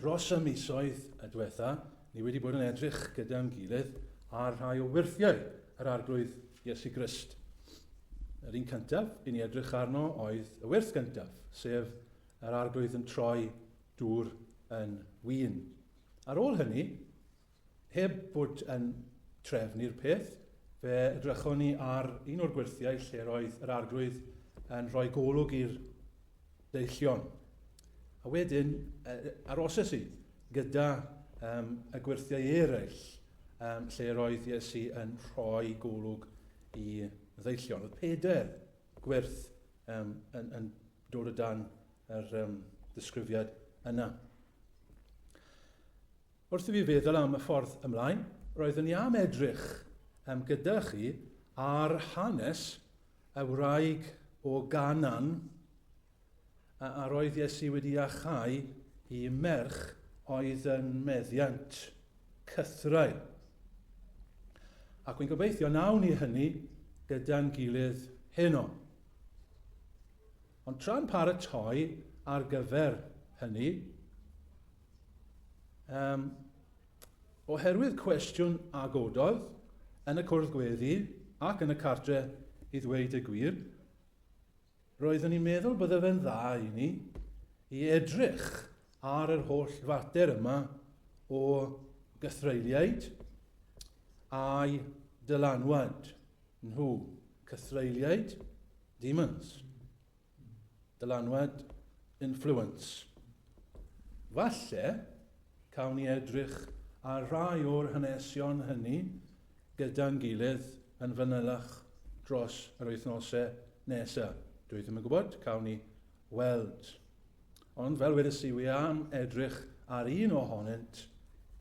Dros y misoedd y diwetha, ni wedi bod yn edrych gyda'n gilydd ar rhai o wyrthiau yr Arglwydd Iesu Grist. Yr un cyntaf i ni edrych arno oedd y wyrth gyntaf, sef yr Arglwydd yn troi dŵr yn wyn. Ar ôl hynny, Heb fod yn trefn i'r peth, fe edrychon ni ar un o'r gwerthiau lle'r oedd yr Arglwydd yn rhoi golwg i'r deillion. A wedyn, aroses i gyda um, y gwerthiau eraill um, lle'r oedd Iesu yn rhoi golwg i ddeillion. Oedd peder gwerth um, yn, yn dod o dan yr um, disgrifiad yna. Wrth i fi feddwl am y ffordd ymlaen, roeddwn i am edrych um, gyda chi ar hanes y wraig o Ganan a, a roedd Iesu wedi achau i merch oedd yn meddiant cythraul. Ac wy'n gobeithio nawn ni hynny gyda'n gilydd heno. Ond tra'n paratoi ar gyfer hynny, um, oherwydd cwestiwn a gododd yn y cwrdd gweddi ac yn y cartre i ddweud y gwir, roeddwn i'n meddwl bydde fe'n dda i ni i edrych ar yr holl fater yma o gythreiliaid a'i dylanwad nhw, cythreiliaid Demons. Dylanwad, influence. Falle, cawn ni edrych ar rai o'r hanesion hynny gyda'n gilydd yn fanylach dros yr wythnosau nesa. Dwi ddim yn gwybod, cawn ni weld. Ond fel wedes i, wi am edrych ar un ohonynt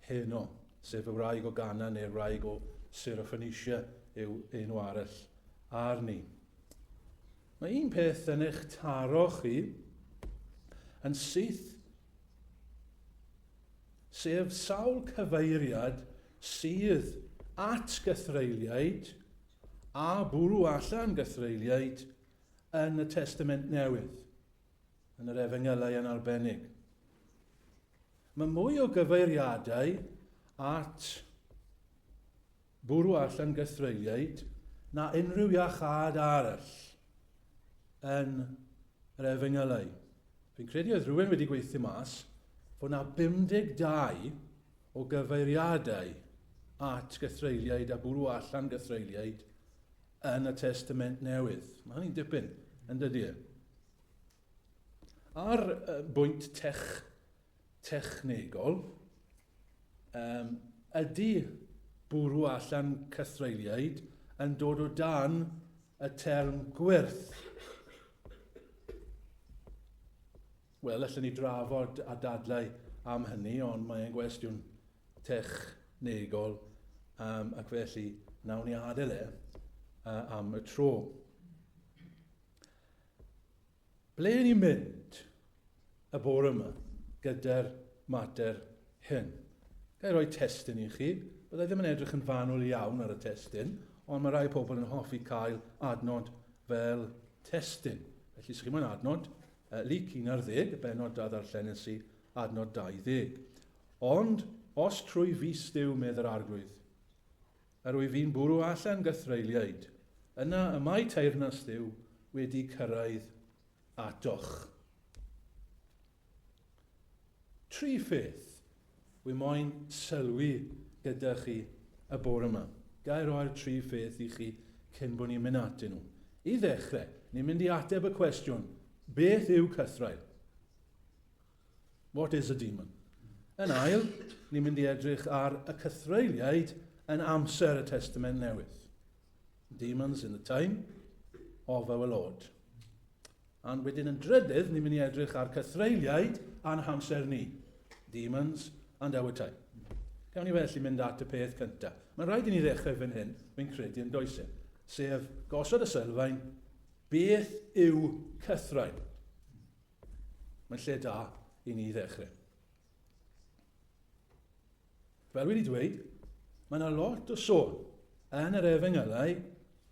heno, sef y wraig o Gana neu'r wraig o Sir y Phoenicia yw enw arall. arni. Mae un peth yn eich taro chi yn syth, sef sawl cyfeiriad sydd at gythreiliaid a bwrw allan gythreiliaid yn y Testament Newydd, yn yr Efengylau yn arbennig. Mae mwy o gyfeiriadau at bwrw allan gythreuliaid na unrhyw iachâd arall yn yr Efengylau. Fi'n credu oedd rhywun wedi gweithio mas fod na 52 o gyfeiriadau at gythreuliaid a bwrw allan gythreuliaid yn y Testament Newydd. Mae hynny'n dipyn, yn dydy e? A'r bwynt tech technegol, yym, ydy bwrw allan cythreuliaid yn dod o dan y term gwyrth? Wel, allan ni drafod a dadlau am hynny, ond mae'n gwestiwn technegol um, ac felly nawn ni adael e uh, am y tro. Ble y'n ni'n mynd y bore yma gyda'r mater hyn? Ga i roi testun i chi? Bydda i ddim yn edrych yn fanwl iawn ar y testun, ond mae rhai pobl yn hoffi cael adnod fel testun. Felly, os chi moyn adnod, uh, lyc 11, y benod da ddarllenes i, adnod 20. Ond, os trwy fis Duw medd yr arglwydd, Yr wyf i'n bwrw allan gythreuliaid, yna y mae teyrnas Dduw wedi cyrraedd atoch. Tri pheth wy moyn sylwi gyda chi y bore yma. Ga'i roi'r tri pheth i chi cyn bod ni'n mynd atyn nhw. I ddechrau, ni'n mynd i ateb y cwestiwn, beth yw cythraul? What is a demon? Yn ail, ni'n mynd i edrych ar y cythreuliaid yn amser y Testament Newydd. Demons in the time of our Lord. A'n wedyn yn drydydd, ni'n mynd i edrych ar cythreuliaid a'n hamser ni. Demons and our time. Gawn ni felly mynd at y peth cyntaf. Mae'n rhaid i ni ddechrau fan hyn, fi'n credu yn does e, sef gosod y sylfaen, beth yw cythrain? Mae'n lle da i ni ddechrau. Fel wedi dweud, mae yna lot o sôn yn yr efengylau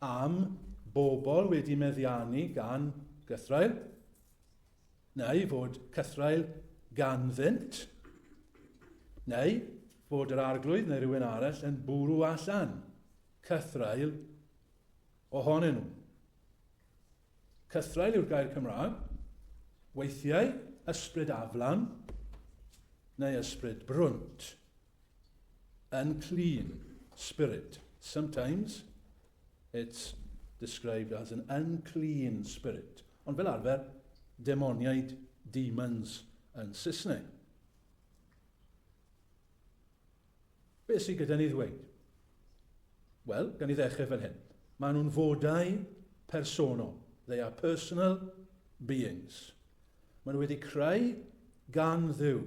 am bobl wedi meddiannu gan gythrael, neu fod cythrael ganddynt, neu fod yr arglwydd neu rhywun arall yn bwrw allan cythrael ohonyn nhw. Cythraul yw'r gair Cymraeg. Weithiau, ysbryd aflan neu ysbryd brwnt. Unclean spirit. Sometimes it's described as an unclean spirit. Ond fel arfer, demoniaid, demons yn Saesneg. Beth sydd gyda ni ddweud? Wel, gan i ddechrau fan hyn. Maen nhw'n fodau personol. They are personal beings. Maen nhw wedi creu gan ddiw.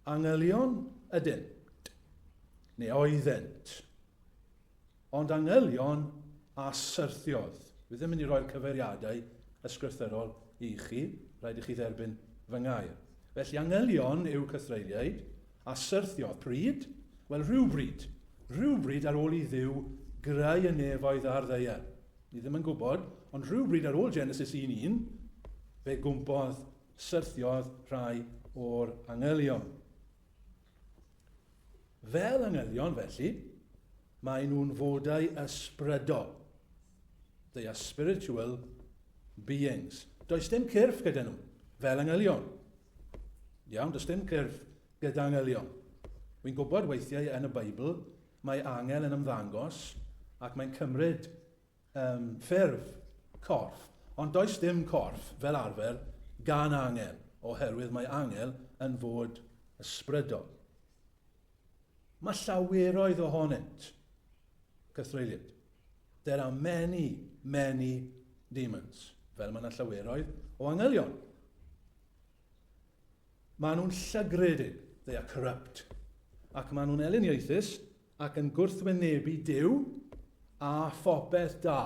Angelion ydynt, neu oeddent. Ond angylion a syrthiodd. Fi ddim mynd i roi'r cyfeiriadau ysgrythyrol i chi, rhaid i chi dderbyn fy ngair. Felly angylion yw cythreuliaid, a syrthiodd. Pryd? Wel, rhywbryd. Rhywbryd ar ôl i Dduw greu y nefoedd a'r ddaear. Ni ddim yn gwybod, ond rhywbryd ar ôl Genesis 1.1, fe gwmpodd, syrthiodd rhai o'r angylion. Fel angylion, felly, maen nhw'n fodau ysbrydol. They are spiritual beings. Does dim cyrff gyda nhw, fel angylion. Iawn, does dim cyrff gyda angylion. Wy'n gwybod weithiau yn y Beibl mae angel yn ymddangos ac mae'n cymryd Yym, ffurf, corff, ond does dim corff, fel arfer, gan angel, oherwydd mae angel yn fod ysbrydol. Mae llaweroedd ohonynt, cythreuliad. There are many, many demons, fel mae yna llaweroedd o angelion. Maen nhw'n llygredig, they are corrupt, ac maen nhw'n eliniaethus, Ac yn gwrthwynebu Duw a phopeth da.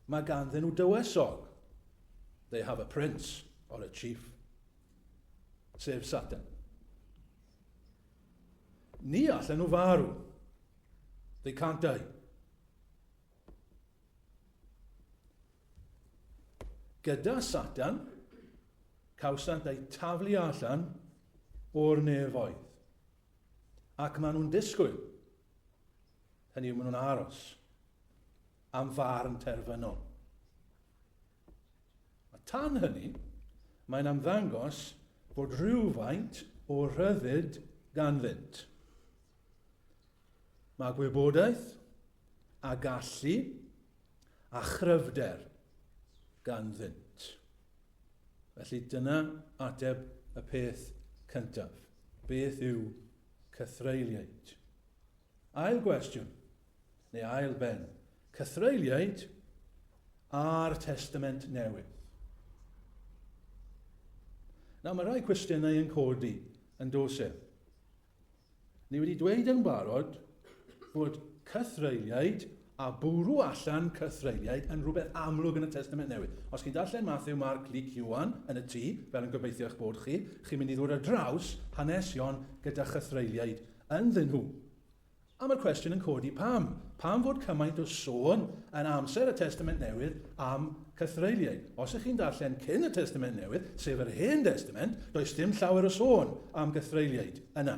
Mae ganddyn nhw dywysog. They have a prince or a chief. Sef Satan. Ni allan nhw farw. They can't die. Gyda Satan, cawsant eu taflu allan o'r nefoedd. Ac maen nhw'n disgwyl, hynny yw maen nhw'n aros, am farn terfynol. A tan hynny, mae'n amddangos bod rhywfaint o rhyddid ganddynt. Mae gwybodaeth a gallu a chryfder ganddynt. Felly dyna ateb y peth cyntaf. Beth yw cythreiliaid? Ail gwestiwn, neu ail ben, cythreiliaid a'r Testament Newydd. Nawr mae rhai cwestiynau yn codi yn dos e. Ni wedi dweud yn barod fod cythreuliaid a bwrw allan cythreuliaid yn rhywbeth amlwg yn y Testament Newydd. Os chi'n darllen Mathew, Marc, Luc, Iwan yn y tŷ, fel yn gobeithio eich bod chi, chi'n mynd i ddod ar draws hanes Sion gyda chythreuliaid ynddyn nhw. A mae'r cwestiwn yn codi pam? Pam fod cymaint o sôn yn amser y Testament Newydd am cythreuliaid? Os ych chi'n darllen cyn y Testament Newydd, sef yr Hen Destament, does dim llawer o sôn am gythreuliaid yna.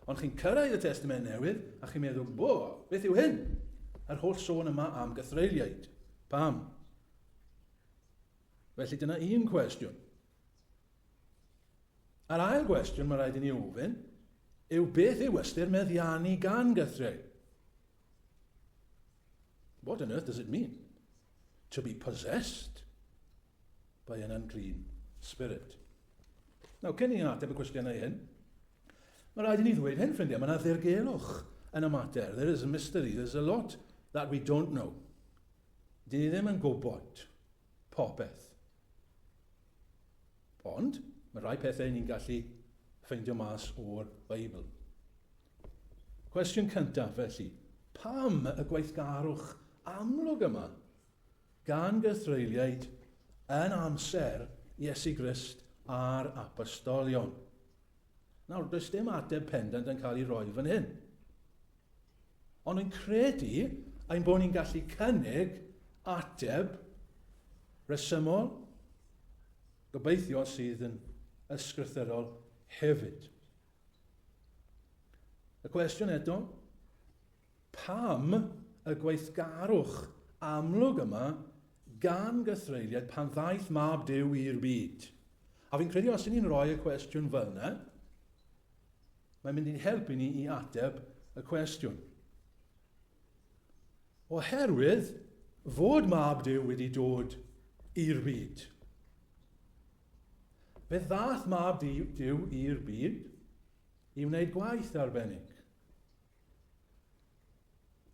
Ond chi'n cyrraedd y Testament Newydd a chi'n meddwl, bo, beth yw hyn? Yr holl sôn yma am gythreuliaid. Pam? Felly dyna un cwestiwn. Yr ail gwestiwn mae rhaid i ni ofyn yw beth yw ystyr meddiannu gan gythreu? What on earth does it mean to be possessed by an unclean spirit? Nawr, cyn i ni ateb y cwestiynau hyn, mae rhaid i ni ddweud hyn, ffrindiau, mae yna ddirgelwch yn y mater. There is a mystery, there's a lot that we don't know. Dyn ni ddim yn gwybod. popeth. Ond, mae rhai pethau ni'n gallu ffeindio mas o'r Beibl. Cwestiwn cyntaf, felly, pam y gweithgarwch amlwg yma gan gythreuliaid yn amser Iesu Grist a'r apostolion? Nawr, does dim ateb pendant yn cael ei roi fan hyn. Ond yn credu ein bod ni'n gallu cynnig ateb resymol, gobeithio sydd yn ysgrythyrol hefyd. Y cwestiwn eto, pam y gweithgarwch amlwg yma gan gythreiliaid pan ddaeth mab Dyw i'r byd? A fi'n credu os ni'n rhoi y cwestiwn fel yna, Mae'n mynd i'n helpu ni i ateb y cwestiwn. Oherwydd fod mab Duw wedi dod i'r byd. Fe ddath mab Duw i'r byd i wneud gwaith arbennig.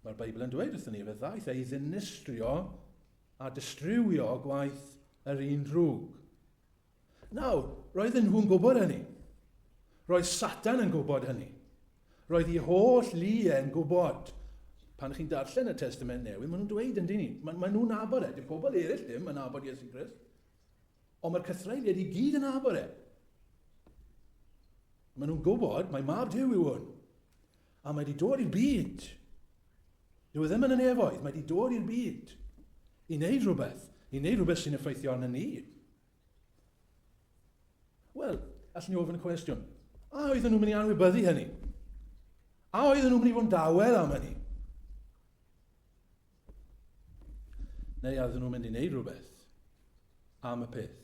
Mae'r Beibl yn dweud wrthyn ni, fe ddaeth ei ddinistrio a distriwio gwaith yr un drwg. Nawr, roedden nhw'n gwybod hynny. Roedd Satan yn gwybod hynny. Roedd ei holl lu e'n gwybod. Pan chi'n darllen y Testament Newydd, maen nhw'n dweud yn dyn ni, maen ma nhw'n nabod e. Dim pobl eraill ddim yn nabod Iesu Grist. Ond mae'r cythreiriaid i gyd yn nabod e. Maen nhw'n gwybod, mae mab Dyw yw hwn. A mae 'di dod i'r byd. Dyw e ddim yn y nefoedd, mae 'di dod i'r byd. I wneud rhywbeth, i wneud rhywbeth sy'n effeithio arno ni. Wel, allwn ni ofyn y cwestiwn, a oedden nhw'n mynd i anwybyddu hynny? A oedden nhw'n mynd i fod yn dawel am hynny? Neu oedden nhw'n mynd i wneud rhywbeth am y peth.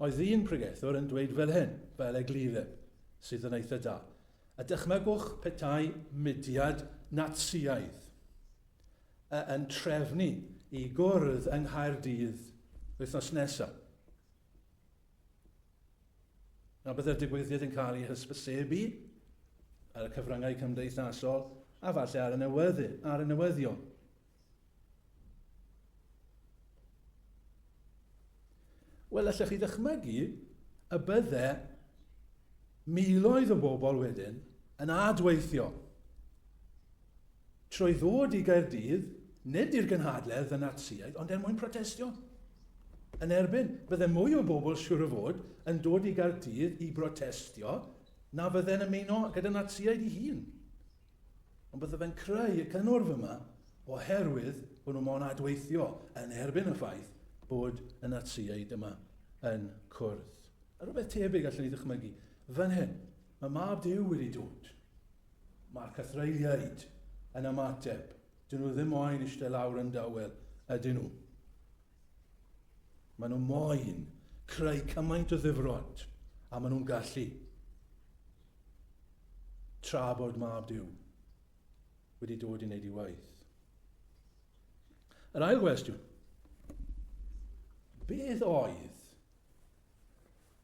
Oedd un pregethwr yn dweud fel hyn, fel eglure, sydd yn eitha da. A dychmygwch petai mudiad Natsïaidd yn trefnu i gwrdd yng Nghaerdydd wythnos nesaf. A byddai'r digwyddiad yn cael ei hysbysebu ar y cyfryngau cymdeithasol a falle ar y, newyddi, ar y newyddion. Wel, allech chi ddychmygu y bydde miloedd o bobl wedyn yn adweithio trwy ddod i Gaerdydd, nid i'r gynhadledd y Natsïaid, ond er mwyn protestio yn erbyn. Bydde mwy o bobl, siwr o fod, yn dod i Gaerdydd i brotestio na fydde'n ymuno gyda Natsïaid i hun. Ond bydde fe'n creu y cynnwrf yma oherwydd bod nhw mo'n adweithio yn erbyn y ffaith bod y Natsïaid yma yn cwrdd. A rhywbeth tebyg allwn ni ddychmygu fan hyn. Mae Mab Duw wedi dod. Mae'r cythreuliaid yn ymateb. Dyn nhw ddim moyn eistedd lawr yn dawel, ydyn nhw? Mae nhw moyn creu cymaint o ddifrod a maen nhw'n gallu. Tra bod Mab Duw wedi dod i wneud ei waith. Yr ail gwestiwn. Beth oedd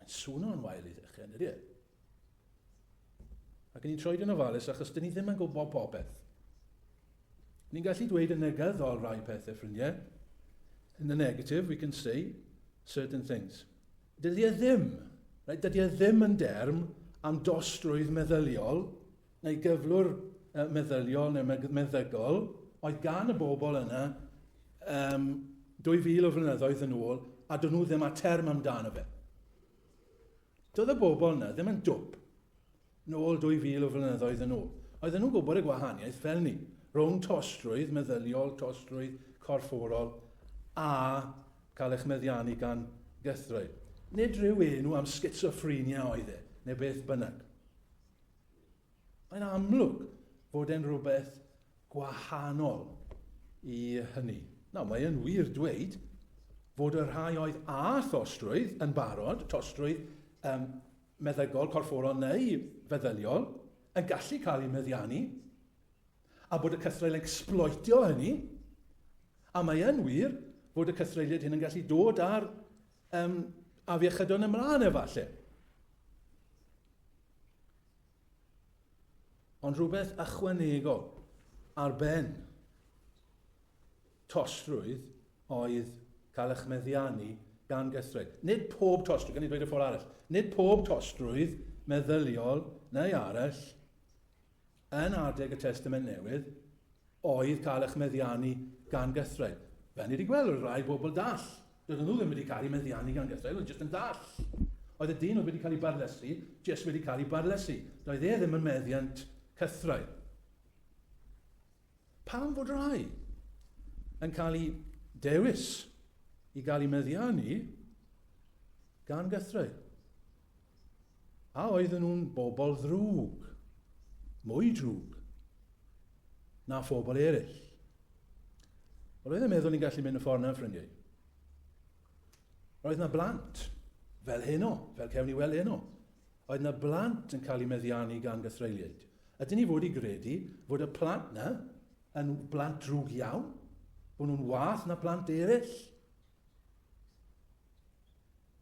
Mae'n swno'n wael i ddechrau, ynddi e? Ac ni'n troed yn ofalus achos dyn ni ddim yn gwybod popeth. Ni'n gallu dweud yn negyddol rai pethau ffrindiau. In the negative, we can say certain things. Dydy e ddim, right, dydy e ddim yn derm am dostrwydd meddyliol, neu gyflwr meddyliol neu meddygol oedd gan y bobl yna um, 2000 o flynyddoedd yn ôl a dyn nhw ddim â term amdano fe. Doedd y bobl yna ddim yn dwp nôl 2000 o flynyddoedd yn ôl. Oedden nhw'n gwybod y gwahaniaeth fel ni, rhwng tostrwydd meddyliol, tostrwydd corfforol a cael eich meddiannu gan gythraul. Nid rhyw enw am schizophrenia oedd e, neu beth bynnag. Mae'n amlwg fod e'n rhywbeth gwahanol i hynny. Nawr, mae yn wir dweud fod y rhai oedd â thostrwydd yn barod, tostrwydd um, meddygol, corfforol neu feddyliol, yn gallu cael eu meddiannu, a bod y cythraul yn exploitio hynny, a mae yn wir fod y cythreiliad hyn yn gallu dod ar Um, afiechydon ymlaen efallai. Ond rhywbeth ychwanegol ar ben tosrwydd oedd cael eich meddiannu gan gythraid. Nid pob tosrwydd, gan i ddweud y ffordd arall, nid pob tosrwydd meddyliol neu arall yn adeg y Testament Newydd oedd cael eich meddiannu gan gythraul. Fel ni wedi gweld, roedd rhai bobl dall. Doedden nhw ddim wedi cael eu meddiannu gan gythraul, oedd jyst yn dall. Oedd y dyn oedd wedi cael ei barlysu, jyst wedi cael ei barlysu. Doedd e ddim yn meddiant cythraul. Pam fod rhai yn cael ei dewis i gael ei meddiannu gan gythraul? A oedden nhw'n bobl ddrwg, mwy drwg na phobl eraill? Wel, oedd e'n meddwl ni'n gallu mynd y ffordd na'n ffrindiau. Roedd na blant, fel heno, fel cewn ni weld heno. Oedd na blant yn cael eu meddiannu gan gythreuliaid. Ydyn ni fod i gredu fod y plant na yn blant drwg iawn? Bod nhw'n wath na plant eraill?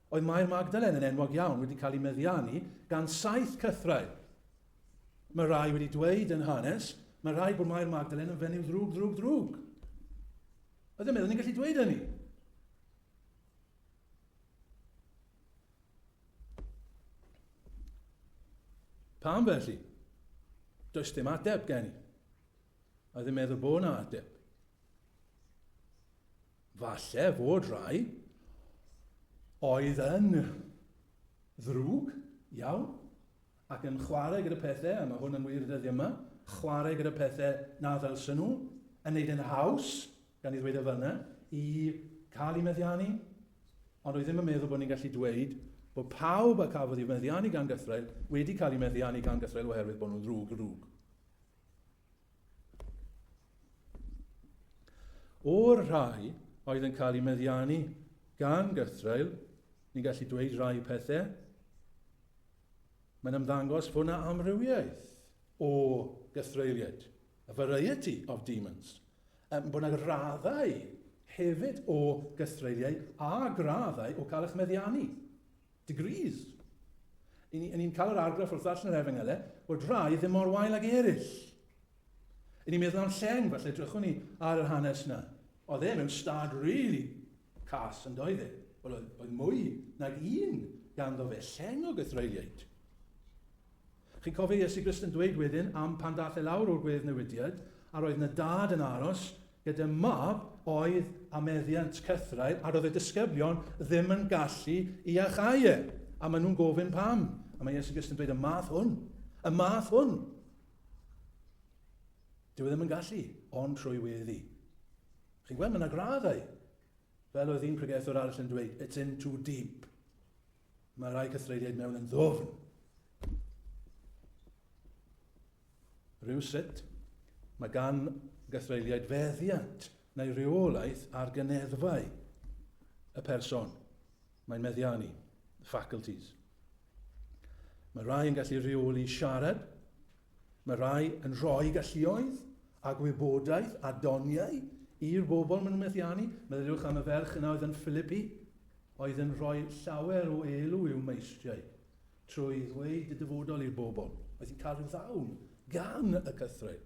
Oedd Mair Magdalen yn enwog iawn wedi cael ei meddiannu gan saith cythraul. Mae rhai wedi dweud yn hanes, mae rhai bod Mair Magdalen yn fenyw ddrwg, ddrwg, ddrwg. Ydym meddwl ni'n gallu dweud hynny? Pam felly? Does dim ateb gen i. A ddim meddwl bod yna ateb. Falle fod rhai oedd yn ddrwg iawn ac yn chwarae gyda pethau, a mae hwn yn wir dyddiau yma, chwarae gyda pethau na ddylsen nhw, yn neud yn haws, gan i ddweud o fel yna, i cael i meddiannu. Ond oedd ddim yn meddwl bod ni'n gallu dweud bod pawb a cafodd i meddiannu gan gythrael wedi cael i meddiannu gan gythrael oherwydd bod nhw'n ddrwg ddrwg. O'r rhai oedd yn cael eu meddiannu gan gythraul, ni'n gallu dweud rhai pethau. Mae'n ymddangos fod yna amrywiaeth o gythreuliaid, a variety of demons, um, bod yna raddau hefyd o gythreuliau a graddau o cael eich meddiannu. Degrees. Y'n ni, y'n ni'n cael yr argraff wrth ddarllen yr Efengylau bod rhai ddim mor wael ag eraill. Y'n ni'n meddwl am Lleng, falle drychwn ni ar yr hanes yna. Oedd e mewn stad really cas yn doedd e? Wel, oedd, oedd mwy nag un ganddo fe, Lleng o Gythreuliaid. Chi'n cofio Iesu Grist yn dweud wedyn am pan dath e lawr o'r gwedd newidiad, a roedd yna dad yn aros Gyda mab oedd â meddiant cythraul a roedd y disgyblion ddim yn gallu iachau e. A maen nhw'n gofyn pam. A mae Iesu Grist yn dweud y math hwn. Y math hwn. Dyw e ddim yn gallu, ond trwy weddi. Chi'n gweld, mae yna graddau. Fel oedd un pregethwr arall yn dweud, it's in too deep. Mae rhai cythreiriaid mewn yn ddofn. Rhywsut, mae gan gythreuliaid feddiant neu reolaeth ar gyneddfau y person mae'n meddiannu, faculties. Mae rhai yn gallu rheoli siarad, mae rhai yn rhoi galluoedd a gwybodaeth a doniau i'r bobl maen nhw'n methiannu. Meddyliwch am y ferch yna oedd yn Philippi, oedd yn rhoi llawer o elw i'w meistriau. Trwy ddweud y dyfodol i'r bobl oedd yn cael ei ddal gan y cythraul,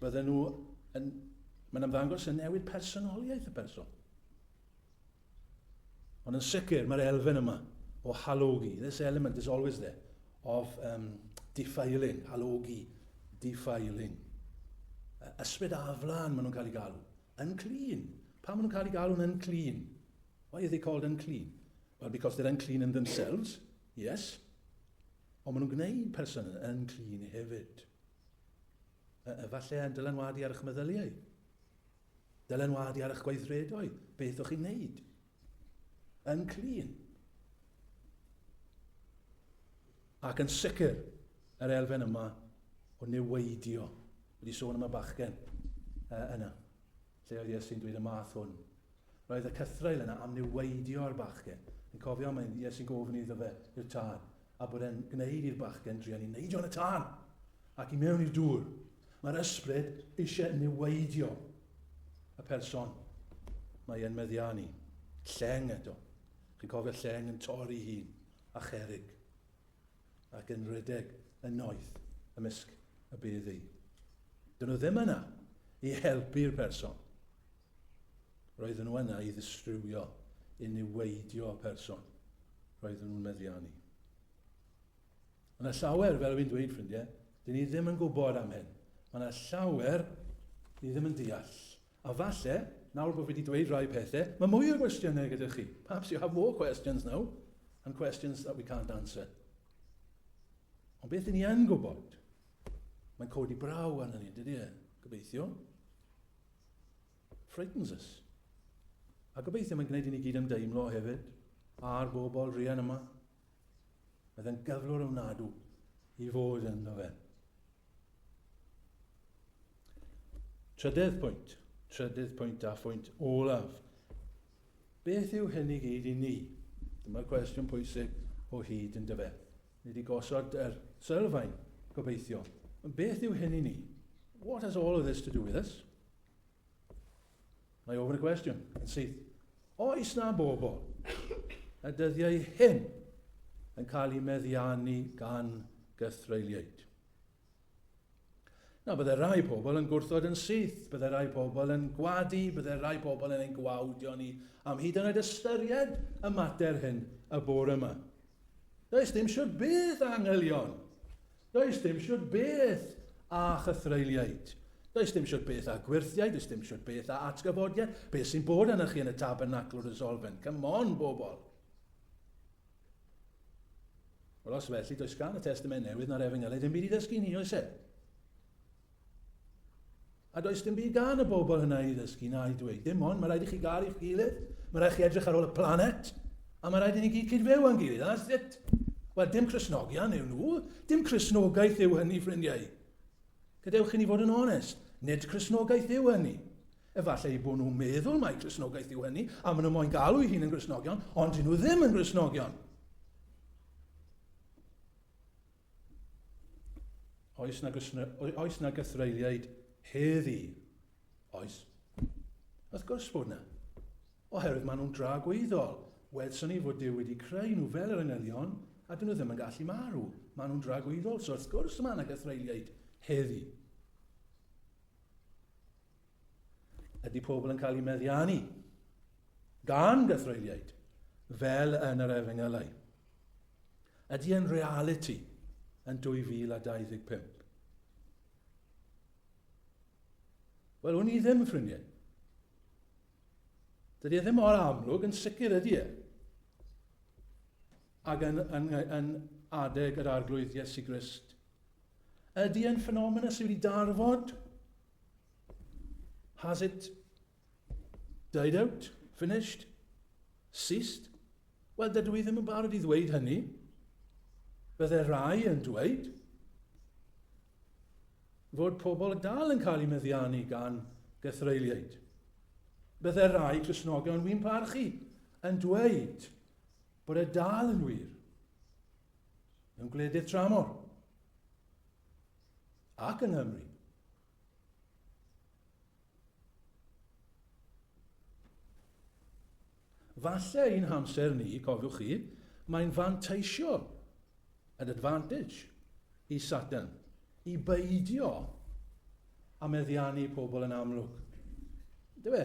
bydden nhw yn... Mae'n ymddangos yn newid personoliaeth y person. Ond yn sicr, mae'r elfen yma o halogi, this element is always there, of um, defiling, halogi, defiling. Ysbryd aflan maen nhw'n cael ei galw. Unclean! Pam maen nhw'n cael eu galw'n unclean? Why are they called unclean? Well, because they're unclean in themselves, yes. Ond maen nhw'n gwneud person yn unclean hefyd. E, efallai yn dylanwadu ar eich meddyliau. Dylanwadu ar eich gweithredoedd. Beth o'ch chi'n wneud? yn clir. Ac yn sicr, yr elfen yma o neweidio. Wedi sôn am y bachgen uh, yna, lle oedd Iesu'n dweud y math hwn. Roedd y cythrael yna am neweidio ar bachgen. Yn cofio, mae Iesu'n gofyn iddo fe i'r tad, A bod e'n gwneud i'r bachgen drueni neidio yn y tân ac i mewn i'r dŵr. Mae'r ysbryd eisiau niweidio y person mae e'n meddiannu. Lleng eto. Chi'n cofio lleng yn torri hun a cherig ac yn rhedeg yn noeth ymysg y beddi. Dyn nhw ddim yna i helpu'r person. Roedden nhw yna i ddistrywio, i niweidio y person roedden nhw'n meddiannu. Mae yna llawer, fel yw'n dweud ffrindiau, dyn ni ddim yn gwybod am hyn. Mae yna llawer ni ddim yn deall. A falle, nawr bod fi wedi dweud rhai pethau, mae mwy o gwestiynau gyda chi. Perhaps you have more questions now, and questions that we can't answer. Ond beth ni yn gwybod, mae'n codi braw arno ni, dydy e? Gobeithio. frightens us. A gobeithio mae'n gwneud i ni gyd ymdeimlo hefyd a'r bobl rian yma. Mae fe'n gyflwr ofnadw i fod yn fe. Trydedd pwynt, trydedd pwynt a phwynt olaf. Beth yw hyn i gyd i ni? Dyma'r cwestiwn pwysig o hyd yn dyfe. Nid i gosod yr sylfaen, gobeithio. Ond beth yw hyn i ni? What has all of this to do with us? Mae ofyn y cwestiwn yn syth. Oes na bobl y dyddiau hyn yn cael ei meddiannu gan gythreuliaid? Na, byddai rhai pobl yn gwrthod yn syth, byddai rhai pobl yn gwadu, byddai rhai pobl yn ein gwawdio ni am hyd yn oed ystyried y mater hyn y bore yma. Does dim siwr beth a angylion. Does dim siwr beth a chythreiliaid. Does dim siwr beth a gwirthiaid, does dim siwr beth a atgyfodiad. Beth sy'n bod arna chi yn y tabernacl wrth y solfen? Come on, bobl! Wel, os felly, does gan y Testament Newydd na'r Efengylau ddim byd i ddysgu ni, oes e? A does dim byd gan y bobl hynna i ddysgu na i dweud. Dim ond, mae rhaid i chi gael i'ch gilydd, mae rhaid chi edrych ar ôl y planet, a mae rhaid i ni gyd cyd-fyw a'n gilydd. That's it. Wel, dim Cresnogian yw nhw. Dim Cresnogaeth yw hynny, ffrindiau. Gadewch i ni fod yn onest. Nid Cresnogaeth yw hynny. Efallai eu bod nhw'n meddwl mai Cristnogaeth yw hynny, a maen nhw moyn galw eu hun yn Gristnogion, ond dyn nhw ddim yn Gristnogion. Oes na, oes na gythreiliaid heddi? Oes. Wrth gwrs bod yna. Oherwydd maen nhw'n dra gweithol. Welson ni fod Dyw wedi creu nhw fel yr angylion, a dyn nhw ddim yn gallu marw. Maen nhw'n dra gweithol, so wrth gwrs mae yna gythreiliaid heddi. Ydy pobl yn cael eu meddiannu gan gythreuliaid fel yn yr efengylau? Ydy yn realiti yn 2025? Wel, wn i ddim, ffrindiau. Dydy e ddim mor amlwg, yn sicr ydy e. Ac yn, yn, yn adeg yr arglwydd Iesu Grist. Ydy e'n ffenomen sydd wedi darfod? Has it died out? Finished? Ceased? Wel, dydw i ddim yn barod i ddweud hynny. Bydde rai yn dweud fod pobl dal yn cael eu meddiannu gan gythreiliaid. Bydde rai Cresnogion wy'n parchu yn dweud bod e dal yn wir mewn gwledydd tramor ac yng Nghymru. Falle ein hamser ni, cofiwch chi, mae'n fanteisio, an advantage, i Satan, i beidio a meddiannu pobl yn amlwg. Dywe,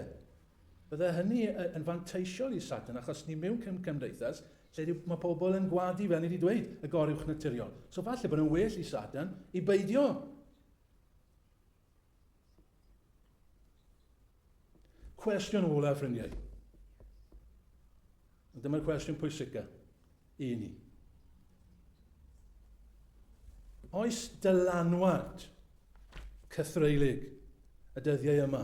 bydde hynny yn fanteisiol i Satan, achos ni mewn cym cymdeithas lle mae pobl yn gwadu, fel ni wedi dweud, y goruwch naturiol. So falle bod yn well i Satan i beidio Cwestiwn olaf, ffrindiau. Dyma'r cwestiwn pwysicaf i ni. Oes dylanwad cythreulig y dyddiau yma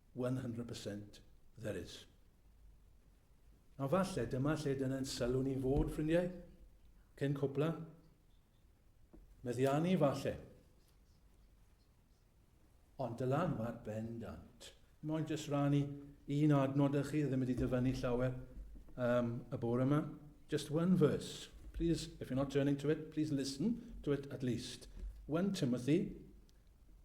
one hundred percent there is. A falle dyma lle dyna'n sylw ni'n fod, ffrindiau, cyn cwpla. Meddiannu falle. Ond dylan mae'r bendant. Mae'n jyst rannu un adnod â chi, ddim wedi dyfynnu llawer um, y bore yma. Just one verse. Please, if you're not turning to it, please listen to it at least. 1 Timothy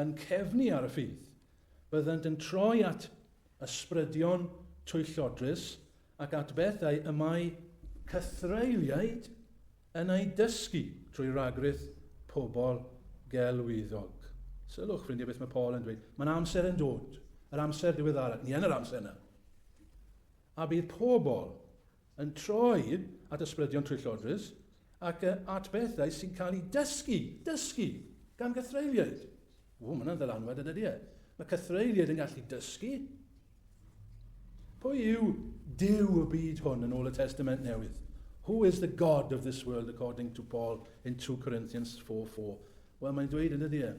yn cefnu ar y ffydd, byddant yn troi at ysbrydion twyllodrus ac at bethau y mae cythreuliaid yn eu dysgu trwy ragrith pobl gelwyddog. Sylwch, ffrindiau, beth mae Paul yn dweud. Mae'n amser yn dod, yr amser diweddarach, ni yn yr amser yna. A bydd pobl yn troi at ysbrydion tryllodus ac at bethau sy'n cael eu dysgu, dysgu, gan gythreuliaid. Ww, mae hwnna'n ddylanwad yn ydy e. Mae cythreuliaid yn gallu dysgu. Pwy yw Dyw y byd hwn yn ôl y Testament Newydd? Who is the God of this world according to Paul in 2 Corinthians 4.4? Wel, mae'n dweud yn ydy e.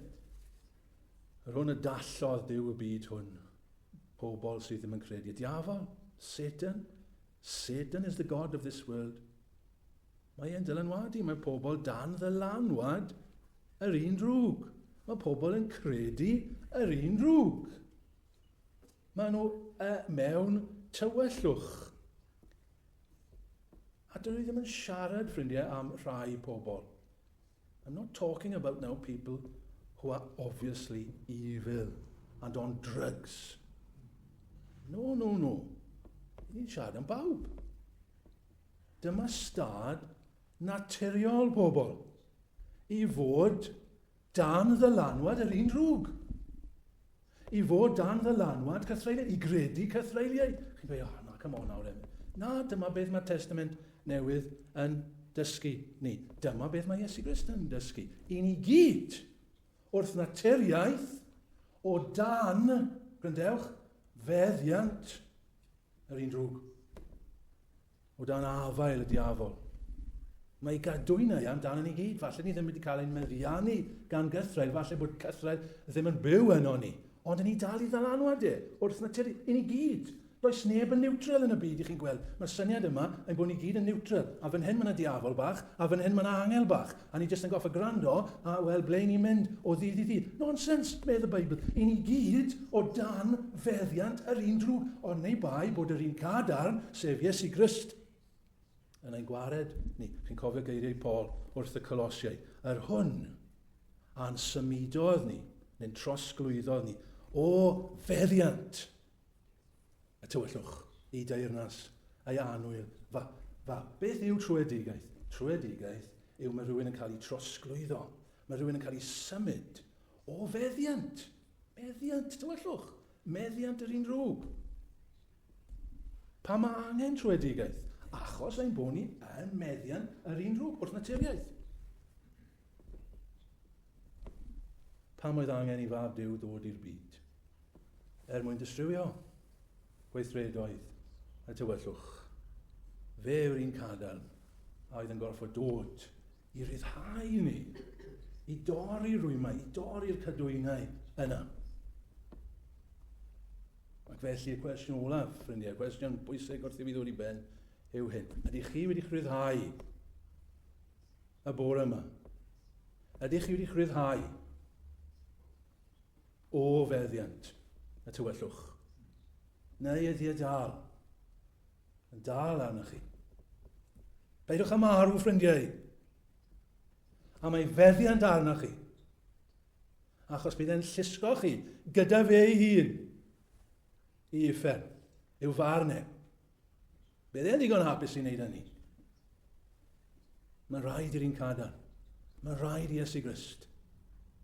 Yr hwn y dallodd Dyw y byd hwn. pobl sydd ddim yn credu. Y diafol, Satan, Satan is the god of this world. Mae e'n dylanwadu, mae pobl dan ddylanwad yr un drwg. Mae pobl yn credu yr un drwg. Mae nhw uh, mewn tywyllwch. A dyn ni ddim yn siarad, ffrindiau, am rhai pobl. I'm not talking about now people who are obviously evil and on drugs. No, no, no. Ni'n siarad am bawb. Dyma stad naturiol pobl i fod dan ddylanwad yr un drwg. I fod dan ddylanwad cythreiliaid, i gredu cythreiliaid. Chi'n dweud, oh, na, come on nawr, Emyr. Na, dyma beth mae'r Testament Newydd yn dysgu ni. Dyma beth mae Iesu Grist yn dysgu. I ni gyd, wrth naturiaeth, o dan, gryndewch, feddiant yr un drwg. O dan afael y diafol. Mae ei gadwynau amdano ni gyd. Falle ni ddim wedi cael ein meddiannu gan gythraul. Falle bod cythraul ddim yn byw yno ni. Ond yn ni dal i ddalanwad e, wrth natur i ni gyd. Does neb yn niwtral yn y byd, i chi'n gweld. Mae'r syniad yma ein bod ni gyd yn niwtral. A fan hyn mae yna diafol bach, a fan hyn mae yna angel bach. A ni jyst yn goffa gwrando a wel ble ni'n mynd o ddydd i ddydd. Nonsens, medd y Beibl. I ni gyd o dan feddiant yr un drwg, ond neu bai bod yr un cadarn, sef Iesu Grist, yn ein gwared ni. Chi'n cofio geiriau Paul wrth y Colosiau. Yr hwn a'n symudodd ni, neu'n trosglwyddodd ni, o feddiant Y tywyllwch, y deyrnas, a'i annwyl. Fa, fa, beth yw trwedigaeth? Trwedigaeth yw mae rhywun yn cael ei trosglwyddo. Mae rhywun yn cael ei symud o feddiant. Meddiant, tywyllwch. Meddiant yr un rhwb. Pa mae angen trwedigaeth? Achos ein bod ni yn meddiant yr un rhwb wrth naturiaeth. Pam oedd angen i fab Duw ddod i'r byd? Er mwyn distrywio gweithredoedd y tywyllwch. Fe yw'r un cadarn a oedd yn gorfod dod i ryddhau ni, i dorri rwymau, i dorri'r cadwynau yna. Ac felly y cwestiwn olaf, ffrindiau, y cwestiwn bwysig wrth i fi ddod i ben yw hyn. Ydych chi wedi rhyddhau y bore yma. Ydych chi wedi rhyddhau o feddiant y tywyllwch? Neu ydy e dal yn dal arnoch chi? Peidiwch â marw, ffrindiau. A mae feddiant arnoch chi. Achos bydd e'n llusgo chi gyda fe ei hun i uffern, i'w farn e, Bydd e ddigon hapus i wneud hynny. Mae'n rhaid i'r un cadar. Mae'n rhaid i Iesu Grist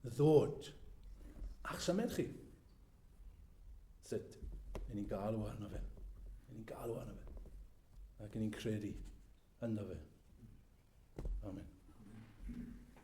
ddod a'ch symud chi. Sut? Yn ni'n galw arno fe. Yn ni'n galw arno fe. Ac yn ni'n credu ynddo fe. Amen.